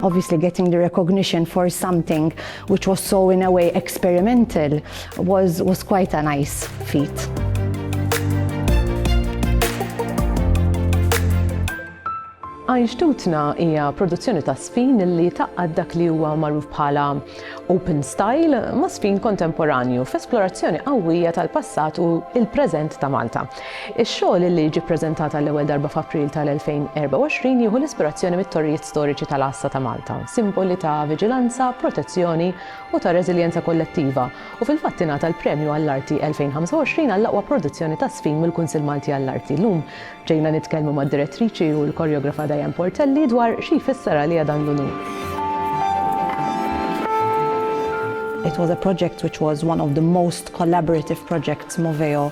obviously getting the recognition for something which was so in a way experimental was, was quite a nice feat. Einstutna hija produzzjoni ta' sfin li taqqad dak li huwa magħruf bħala open style ma' sfin kontemporanju f'esplorazzjoni qawwija tal-passat u l-preżent ta' Malta. Ix-xogħol li jiġi ppreżentat għall-ewwel darba f'April tal-2024 jieħu l-ispirazzjoni mit-torrijiet storiċi tal-Għassa ta' Malta, simboli ta' viġilanza, protezzjoni u ta' reżiljenza kollettiva, u fil-fatt ingħata l-Premju għall-Arti 2025 għall-aqwa produzzjoni ta' żfin mill-Kunsill Malti għall-Arti. Llum ġejna nitkellmu mad-Direttriċi u l-Koreografa Diane Portelli dwar xi jfisser għaliha dan l-unur. It was a project which was one of the most collaborative projects Moveo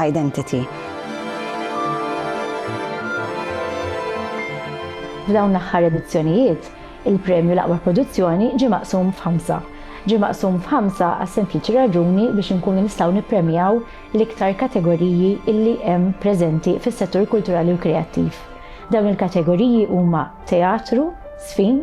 identity. F'dawn l-aħħar edizzjonijiet, il-premju l-aqwa produzzjoni ġie maqsum f'ħamsa. Ġie maqsum f'ħamsa għas-sempliċi raġuni biex inkunu nistgħu nippremjaw l-iktar kategoriji illi hemm preżenti fis-settur kulturali u kreattiv. Dawn il-kategoriji huma teatru, żfin,